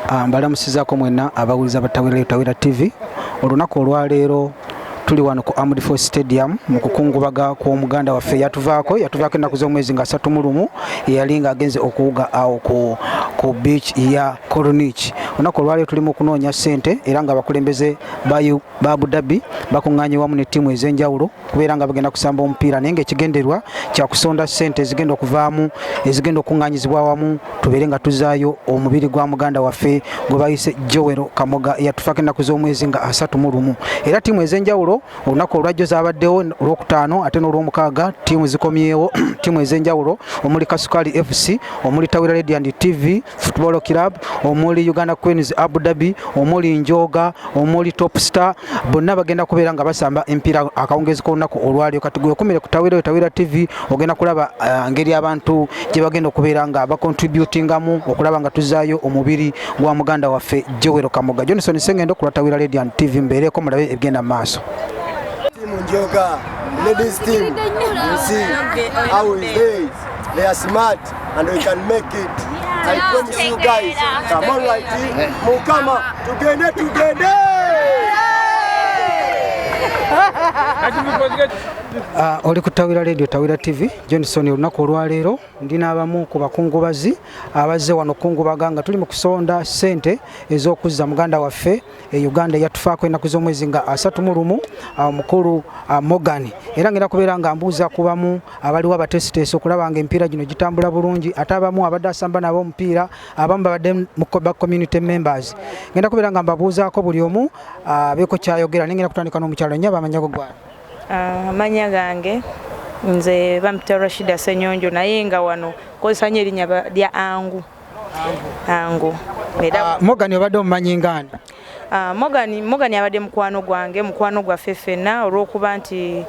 Ah, mbalamusizako mwena abawuliza batawera tawera tv olunaku olwaleero tuli wano ku Armed Force Stadium mu kukungubaga kw'omuganda waffe yatuvaako yatuvaako ennaku z'omwezi nga satu mulumu eyali nga agenze okuwuga awo ku, ku beach ya Corniche olunaku olwaleero tulimu okunoonya ssente era nga abakulembeze ba Abu Dhabi bakuŋŋaanye wamu ne ttiimu ez'enjawulo kubeera nga bagenda kusamba omupiira naye ngaekigenderwa kyakusonda sente ezigenda okuvaamu ezigenda okunganyizibwa awamu tubeere nga tuzaayo omubiri gwa muganda waffe gwebayise jowero kamoga yatufako ennaku z'omwezi nga asatu mu lumu era tiimu ez'enjawulo olunaku olwajjo zabaddewo olwokutaano ate n'olwomukaaga tiimu zikomyewo tiimu ez'enjawulo omuli kasukali fc omuli tawira radiant tv football club omuli uganda queens abu dhabi omuli njoga omuli top star bonna bagenda kubeera nga basamba empiira akawungezi k'olunaku olwalio kati gwekumire ku tawira yo tawira tv ogenda kulaba uh, ngeri abantu gye bagenda okubeera nga bacontributingamu okulaba nga tuzaayo omubiri gwa muganda waffe jowero kamoga johnson sengendo ku lwa tawira radian tv mbeereeko mulabe ebigenda mu maaso Ladies team, you see how is they? They are smart. and we can make it. Yeah. I promise you guys. Come on, right here. Mukama, tugende, tugende. Uh, oli ku tawira radio tawira tv johnson olunaku olwaleero ndi n'abamu ku bakungubazi abazze wano kungubaga nga tuli mu kusonda ssente ez'okuzza muganda waffe e uganda yatufaako enaku z'omwezi nga asatu mu lumu ah, omukulu ah, morgan era ngenda kubeera nga mbuuza kubamu abaliwo abateesiteesi okulaba nga emipiira gino gitambula bulungi ate abamu abadde asamba nabo omupiira abamu babadde ba community members ngenda kubeera nga mbabuuzaako buli omu ah, beeko kyayogera naye ngenda kutandika n'omukyalo nyo abamanyago gwana amanya gange nze bamita rashida senyonjo naye nga wano kozesa nyo erinnya lya angu ango ah, mogani obadde omumanyi ngaani ah, mogani mogani abadde mukwano gwange mukwano gwaffe ffenna olw'okuba nti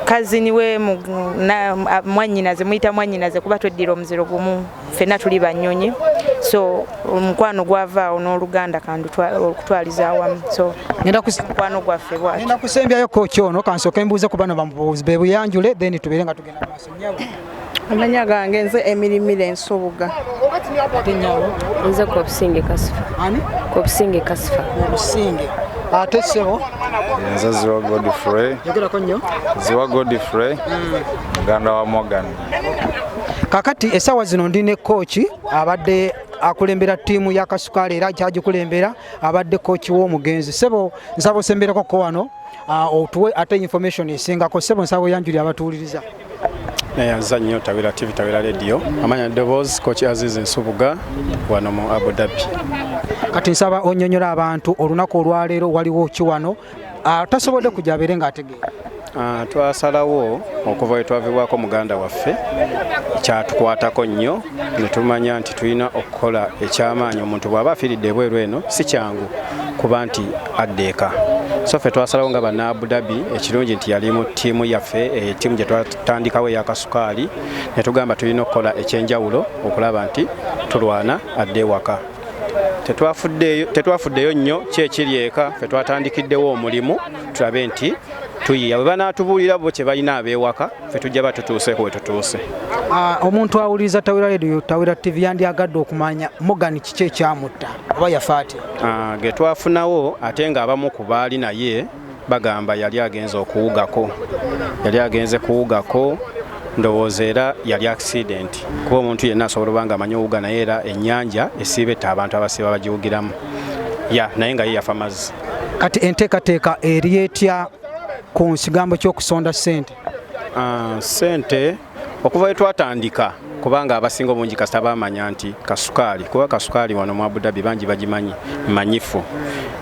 kazini we mwanyinaze muyita mwanyinaze kuba tweddira omuziro gumu ffenna tuli banyonyi so omukwano gwavaawo n'oluganda kandi okutwaliza awamu so mukwano gwaffe bwati kusembyayo koki ono kansooke mbuuze ku bano bamubuuzi bebuyanjule then tubeere nga tugenda maaso amanya gange nze emirimira ensubuga nze kobusinge kasifa kobusinge kasifa obusinge ate sebo nze ziwa godfrey yogerako nnyo ziwa godfrey hmm. muganda wa morgan kakati esawa zino ndi ne kooki abadde akulembera ttiimu ya kasukaali era kyagikulembera abadde kooki w'omugenzi sebo nsaba osembereko ko wano Ah, otuwe ate information esingako sebo nsawo yanjuli abatuwuliriza naye aza nnyo tawira tv tawira radio amanya eddoboozi koki azizi nsubuga wano mu abu dhabi kati nsaba onyonyola abantu olunaku olwaleero waliwo ki wano ah, tasobodde kujja abeere ng'ategeera ah, twasalawo okuva wetwavibwako muganda waffe kyatukwatako nnyo netumanya nti tulina kola ekyamaanyi omuntu bw'aba afiiridde ebweru eno si kyangu kuba nti adda eka so ffe twasalawo nga banna abu dhabi ekirungi nti yali mu ttiimu yaffe eh, ttiimu gye twatandikawo eyakasukaali ne tugamba tulina okukola ekyenjawulo okulaba nti tulwana adde ewaka tetwafuddeyo nnyo kyekiri eka fe twatandikiddewo omulimu tulabe nti tuyiya bwe banaatubuulira bo kye balina abeewaka ffe tujja ba tutuuseeko we tutuuse. Ah, omuntu awuliriza Tawera Radio, Tawera TV yandyagadde okumanya Morgan kiki ekyamutta oba yafa atya? Ah, ge twafunawo ate ng'abamu ku baali naye bagamba yali agenze okuwugako, yali agenze kuwugako ndowooza era yali akisidenti kuba omuntu yenna asobola obanga amanyi owuga naye era ennyanja esiiba etta abantu abasiiba bagiwugiramu ya naye nga ye yafa mazzi kati enteekateeka eri etya ku nsigambo ky'okusonda ssente ah, ssente okuva wetwatandika kubanga abasinga obungi kasita bamanya nti kasukaali kuba kasukaali wano mu abudabi bangi bagimanyi manyifu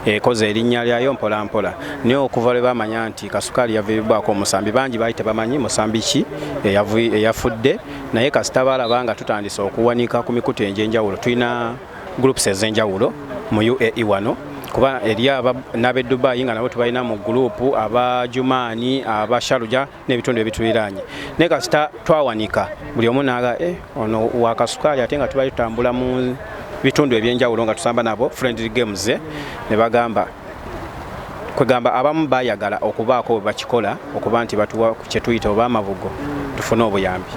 ekoze erinnya lyayo mpolampola naye okuva lwe bamanya nti kasukaali yaviiribbwako omusambi bangi baali tebamanyi musambi ki eyafudde naye kasita balaba nga tutandise okuwanika ku mikutu enjenjawulo tulina groups ezenjawulo mu UAE wano kuba eri n'ab'e Dubai nga nabo tubalina mu gulupu aba Jumaani aba Sharuja n'ebitundu ebituliraanye naye kasita twawanika buli omu naaga eh, ono wakasukaali ate nga tubali tutambula mu bitundu ebyenjawulo nga tusamba nabo friendly games eh, ne bagamba kwegamba abamu bayagala okubaako bwe bakikola okuba nti batuwa kye tuyita oba amabugo tufune obuyambi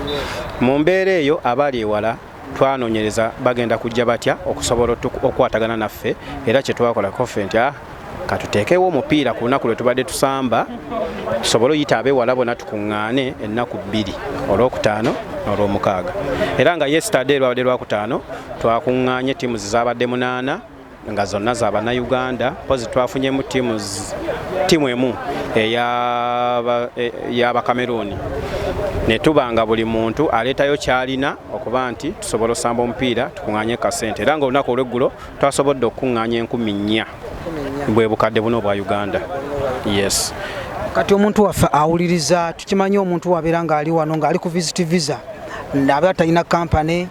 mu mbeera eyo abali ewala twanonyereza bagenda kujja batya okusobola okukwatagana naffe era kyetwakola kofe nti ah, katuteekewo omupiira ku lunaku lwe tubadde tusamba tusobole oyita abewala bona tukuŋŋaane ennaku bbiri olwokutaano n'olwomukaaga era nga yesitade lwabadde lwakutaano twakuŋŋaanye tiimu zizabadde munaana nga zonna za bannayuganda mpozi twafunyemu tiimu emu eyabakameruuni e, ne tuba nga buli muntu aleetayo kyalina okuba nti tusobola osamba omupiira tukuŋŋanye kasente era nga olunaku olweggulo twasobodde okukuŋŋanya enkumi nnya bwe bukadde buno obwa uganda yes kati omuntu waffe awuliriza tukimanyi omuntu wabeera ng'ali wano ng'ali ku visit visa aba talina kampany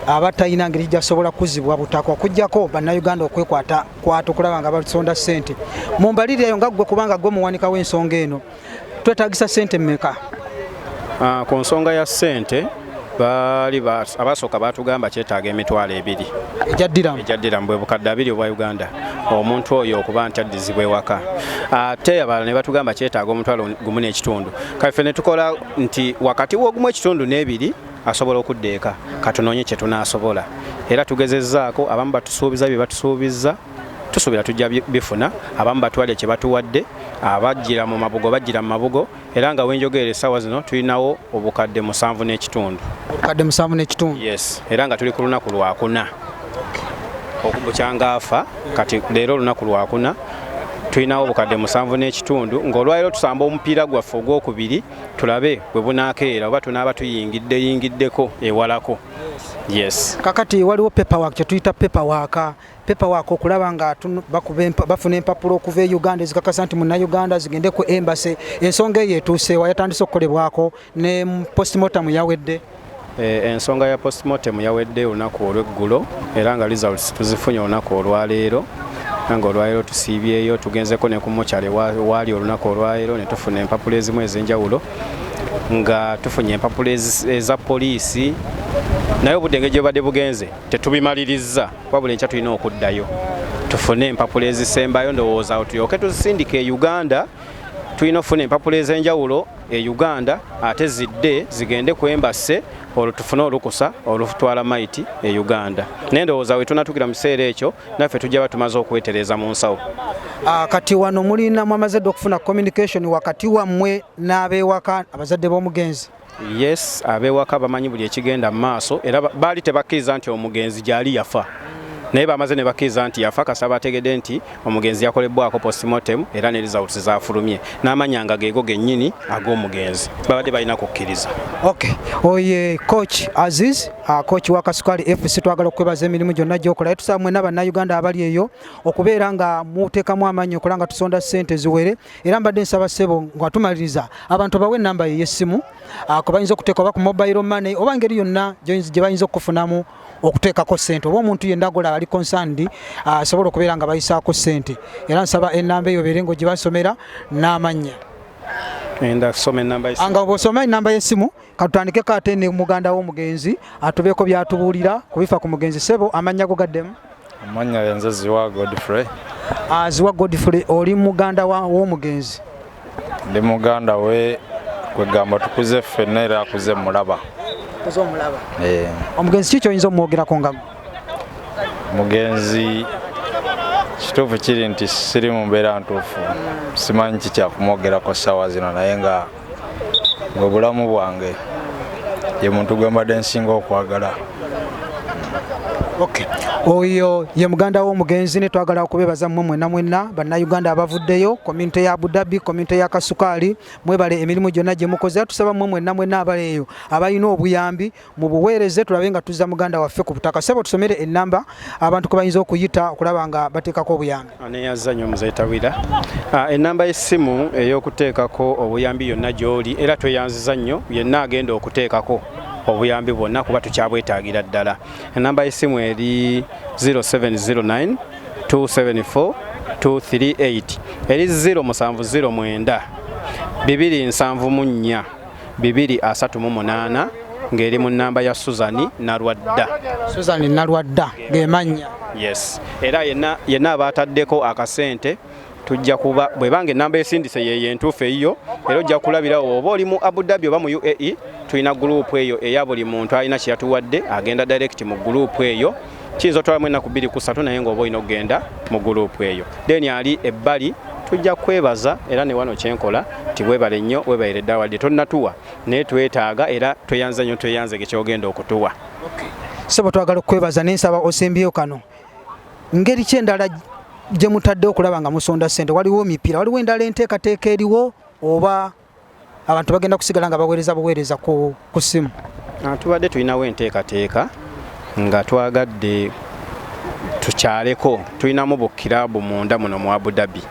aba talina ngeri gyasobola kuzibwa butaka okujjako bannayuganda okwekwata kwata okulaba nga basonda ssente mu mbaliri eyo nga ggwe kubanga gwe muwanika w'ensonga eno twetagisa ssente mmeka ah, ku nsonga ya ssente baali abasooka baatugamba kyetaaga emitwalo ebiri egyaddiramu bwe bukadde abiri obwa uganda omuntu oyo okuba nti addizibwa ewaka ate abalala ne batugamba kyetaaga omutwalo gumu n'ekitundu kaffe ne tukola nti wakati w'ogumu ekitundu n'ebiri asobola okudda eka katunoonye kye tunaasobola era tugezezzaako abamu batusuubiza bye batusuubizza tusuubira tujja bifuna abamu batwale kye batuwadde abajjira mu mabugo bajjira mu mabugo era nga wenjogeera essaawa zino tulinawo obukadde musanvu n'ekitundu obukadde musanvu n'ekitundu yes era nga tuli ku lunaku lwakuna okubukyanga afa kati leero olunaku lwakuna tulinawo obukadde musanvu n'ekitundu ng'olwaliro tusamba omupiira gwaffe ogwokubiri tulabe bwe bunaakeera oba tunaaba tuyingiddeyingiddeko ewalako yes kakati waliwo paperwork kye tuyita paperwork paperwork okulaba nga bafuna empapula okuva e uganda ezikakasa nti munnayuganda zigende ku embase ensonga eyo etuuseewa yatandise okukolebwako ne postmortem yawedde E, ensonga ya postmortem yawedde olunaku olweggulo era nga results tuzifunye olunaku olwaleero nga olwaleero tusiibyeyo tugenzeko ne ku mochale waali olunaku olwaleero ne tufuna empapula ezimu ez'enjawulo nga tufunye empapula eza poliisi naye obudde engeri gyebadde bugenze tetubimalirizza wabula enkya tulina okuddayo tufune empapula ezisembayo ndowooza awo tulyoke tuzisindika e uganda tulina okufuna empapula ez'enjawulo e Uganda ate zidde zigende ku embassy olwo tufune olukusa olutwala maiti e Uganda. Naye ndowooza we tunatuukira mu kiseera ekyo naffe tujja batumaze okwetereeza mu nsawo. Ah, kati wano mulina mwamaze dda okufuna communication wakati wammwe n'abeewaka abazadde b'omugenzi? Yes, abeewaka bamanyi buli ekigenda mu maaso era baali tebakkiriza nti omugenzi gyali yafa naye bamaze ne bakkiriza nti yafa kasaba ategedde nti Omugenzi yakolebbwako postmortem era ne results zafulumye n'amanya nga geego gennyini ag'omugenzi babadde balina kukkiriza. Okay. Oye coach Aziz, uh, coach wa Kasukali FC twagala okwebaza emirimu gyonna gyokola era tusaba mwena bannayuganda abali eyo okubeera nga muteekamu amaanyi okola nga tusonda ssente ziwere era mbadde nsaba ssebo nga tumaliriza abantu bawe ennamba ye y'essimu uh, kwe bayinza okuteeka oba ku mobile money oba ngeri yonna gye bayinza okukufunamu okuteekako ssente oba omuntu yenna gola ali konsandi ah, asobola okubeera nga bayisaako ssente era nsaba enamba eyo beere ngo gye basomera n'amannya nga bwosoma enamba y'essimu katutandikeko ate ne muganda w'omugenzi atubeeko byatubuulira kubifa ku mugenzi sebo amannya go gaddemu Amannya yenze Ziwa Godfrey. Ah, Ziwa Godfrey oli muganda w'omugenzi? Ndi muganda we kwegamba tukuze ffenna era akuze mulaba. Okuze omulaba? Ee. Eh. Omugenzi ki kyoyinza omwogerako nga mugenzi kituufu kiri nti siri mu mbeera ntuufu simanyi kikyakumwogerako ssaawa zino naye nga gwe bulamu bwange ye muntu gwe mbadde nsinga okwagala Okay. Oyo ye muganda w'omugenzi ne twagala okubebaza mmwe mwenna mwenna bannayuganda abavuddeyo komyunite ya Abudabi komyunite ya Kasukaali mwebale emirimu gyonna gye mukoze tusaba mmwe mwenna mwenna abaleeyo abalina obuyambi mu buweereze tulabe nga tuzza muganda waffe ku butaka sebo tusomere enamba abantu kwebayinza okuyita okulaba nga bateekako obuyambi aneyaza nyo muzeyi tawira ah, enamba y'essimu ey'okuteekako obuyambi yonna gy'oli era tweyanziza nnyo yenna agenda okuteekako obuyambi bwonna kuba tukyabwetaagira ddala enamba y'essimu eri 0709 274 238 eri 0 musanvu 0 mwenda bibiri nsanvu mu nnya bibiri asatu mu munaana ng'eri mu nnamba ya Suzani Nalwadda. Suzani Nalwadda ge mannya. Yes. Era yenna yenna abaataddeko akasente tujja kuba bwe bange ennamba esindise yeeyo entuufu eyiyo era ojja kulabirawo oba oli mu Abu Dhabi oba mu UAE tulina guruupu eyo eya buli muntu alina kye yatuwadde agenda direct mu guruupu eyo. kiyinza otwalamu ennaku bbiri ku ssatu naye ng'oba olina okugenda mu guluupu eyo deni ali ebbali tujja kwebaza era ne wano kyenkola nti webale nnyo webayire ddala wadde tonnatuwa naye twetaaga era tweyanza nnyo tweyanze ge kyogenda okutuwa sebo twagala okukwebaza naye nsaba osembyeyo kano ngeri ki endala gye mutadde okulaba nga musonda ssente waliwo mipiira waliwo endala enteekateeka eriwo oba abantu bagenda kusigala nga baweereza buweereza ku ssimu ah, tubadde tulinawo enteekateeka nga twagadde tukyaleko tulinamu bukirabu munda muno mu abudabi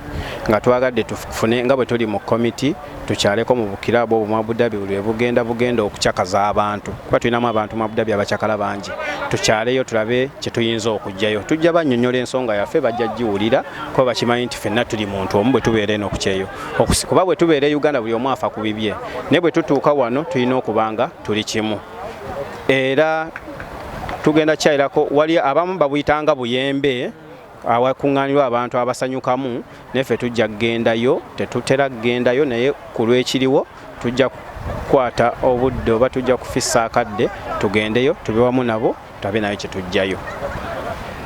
nga twagadde tufune nga bwe tuli mu komiti tukyaleko mu bukirabu obwo mu abudabi buli bugenda bugenda okucakaza abantu kuba tulinamu abantu mu abudabi abacakala bangi tukyaleyo tulabe kye tuyinza okugyayo tujja bannyonnyola ensonga yaffe bajja giwulira kuba bakimanyi nti fenna tuli muntu omu bwe tubeera eno okukyeyo kuba bwe tubeera e uganda buli omu afa ku bibye naye bwe tutuuka wano tulina okubanga tuli kimu era tugenda kyayirako wali abamu babuyitanga buyembe awakuŋŋaanirwa abantu abasanyukamu naffe tujja kugendayo tetutera kugendayo naye ku lwekiriwo tujja kukwata obudde oba tujja kufissa akadde tugendeyo tube wamu nabo tutabe nayo kyetujjayo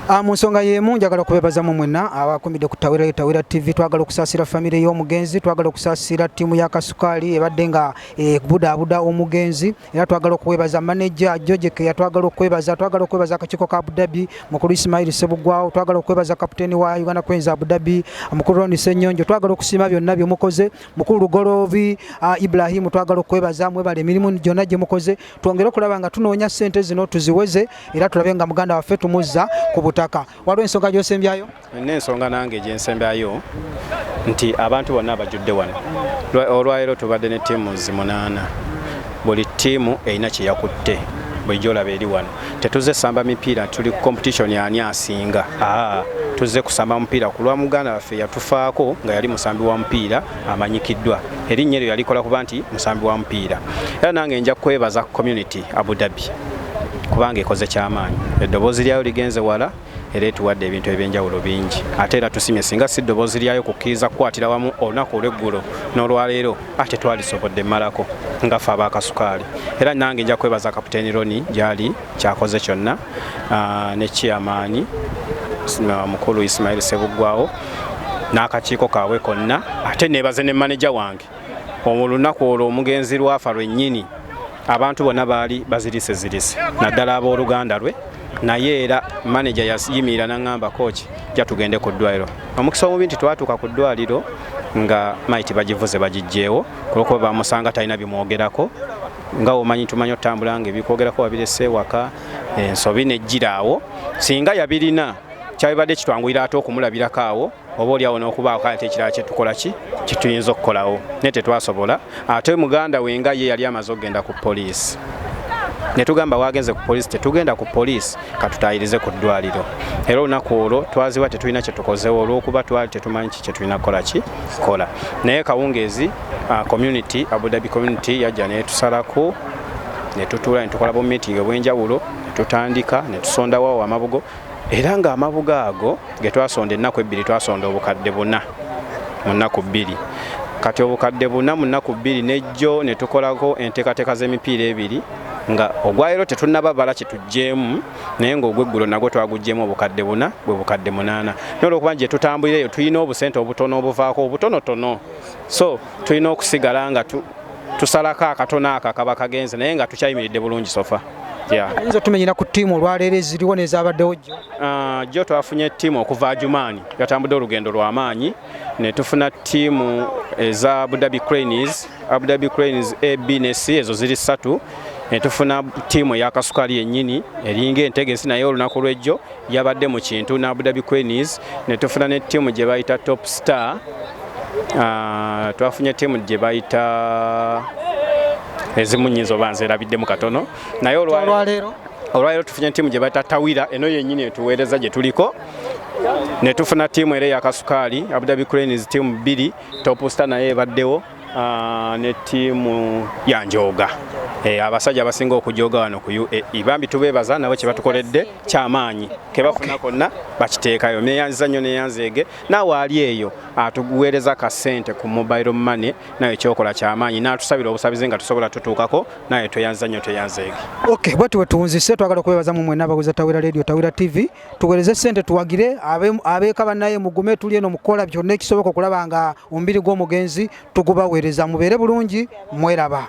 Ah, mu nsonga y'emu njagala okubeebazamu mwenna abakumidde ku tawera tawera tv twagala okusaasira famire y'omugenzi twagala okusaasira ttiimu ya kasukaali ebadde nga ekubudaabuda eh, omugenzi era twagala okwebaza maneja jojeke yatwagala okwebaza twagala okwebaza akakiiko ka abudabi mukulu isimaili sebugwawo twagala okwebaza kaputeeni wa uganda queens abudabi mukulu roni senyonjo twagala okusiima byonna byemukoze mukulu lugoloobi ah, ibrahimu twagala okwebaza mwebala emirimu gyonna gye mukoze twongere okulaba nga tunoonya ssente zino tuziweze era tulabe nga muganda waffe tumuzza ku butaka waliwo ensonga gyosembyayo nina ensonga nange gyensembyayo nti abantu bonna abajudde wano olwaleero tubadde ne tiimu zi munaana buli tiimu erina kyeyakutte bulijjo olaba eri wano tetuze samba mipiira tuli competition ani asinga tuze kusamba mupiira kulwa muganda waffe yatufaako nga yali musambi wa mupiira amanyikiddwa erinnya eryo yalikola kuba nti musambi wa mupiira era nange nja kwebaza community abu dhabi kubanga ekoze kyamaanyi eddoboozi lyayo ligenze wala era etuwadde ebintu ebyenjawulo bingi ate era tusimye singa si ddoboozi lyayo kukkiriza kukwatira wamu olunaku olweggulo n'olwaleero ate twalisobodde malako nga fe abakasukaali era nange nja kwebaza kaputeni roni gyali kyakoze kyonna ne chairman mukulu Ismail Sebuggwawo n'akakiiko kaabwe konna ate nebaze ne maneja wange olunaku olwo omugenzi lwafa lwennyini abantu bonna baali bazirise zirise naddala abooluganda lwe naye era maneja yayimirira naŋamba kooki ja tugende ku ddwaliro omukisa omubi nti twatuuka ku ddwaliro nga maiti bagivuze bagijjeewo kulwokuba bamusanga talina bimwogerako nga omanyi tumanyi otambula nga ebikwogerako wabirese ewaka ensobi nejjira awo singa yabirina kyabibadde kitwanguyira ate okumulabirako awo oba olyawo nokubaako ate ekirala kyetukola ki kituyinza okukolawo naye tetwasobola ate muganda we nga ye yali amaze okugenda ku poliisi netugamba wagenze ku poliisi tetugenda ku poliisi katutayirize ku ddwaliro era olunaku olwo twaziwa tetulina kyetukozewo olwokuba twali tetumanyi ki kyetulina kukola ki kola naye kawungeezi Ah, community Abu Dhabi community yajja netusalako netutuula netukola bu meeting obwenjawulo netutandika netusondawo amabugo era nga amabugo ago getwasonda ennaku ebbiri twasonda obukadde buna mu nnaku bbiri kati obukadde buna mu nnaku bbiri nejjo netukolako enteekateeka z'emipiira ebiri nga ogwayiro tetunaba bala kyetujjeemu naye ngaogweggulo nagwo twagujjeemu obukadde buna bwe bukadde munaana naye olwokuba ngyetutambulira eyo tulina obusente obutono obuvaako obutonotono so tulina okusigala nga tu, tusalako akatono ako akaba kagenze naye nga tukyayimiridde bulungi sofa ayinza otumenyera ku ttiimu olwaleero eziriwo nezabaddewo jjo ah, jjo twafunye ttiimu okuva ajumaani yatambudde olugendo lwamaanyi netufuna ttiimu eza abudabi cranes abudabi cranes ab ne c ezo ziri ssatu netufuna ttiimu eyakasukali yennyini eringa entegesi naye olunaku lwejjo Yabadde mu kintu na Abu Dhabi Queenies ne tufuna ne ttiimu gye bayita Top Star. Uh, twafunye ttiimu gye bayita ezimu nyinza oba nzerabiddemu katono naye olwaleero olwaleero tufunye ttiimu gye bayita Tawira eno yennyini etuweereza gye tuliko ne tufuna ttiimu era eyakasukaali Abu Dhabi Cranes ttiimu bbiri Top Star naye ebaddewo Ah, ne tiimu ya njooga eh, abasajja abasinga okujooga wano ku uae bambi tubeebaza nabo kye batukoledde kyamaanyi kebafuna konna bakiteekayo meyanziza nnyo neyanzeege naawe ali eyo atuweereza ah, ka ssente ku mobile money nawe kyokola kyamaanyi n'atusabira obusabizi nga tusobola tutuukako nawe tweyanziza nnyo tweyanzeege ok bwetyo bwe tuwunzise twagala okubeebaza mu mwena abaguza tawera radio tawera tv tuwereze sente tuwagire abeeka banaye mugume tuli eno mukukola byonna ekisoboka okulaba nga omubiri gw'omugenzi tugubaweereza mubeere bulungi mweraba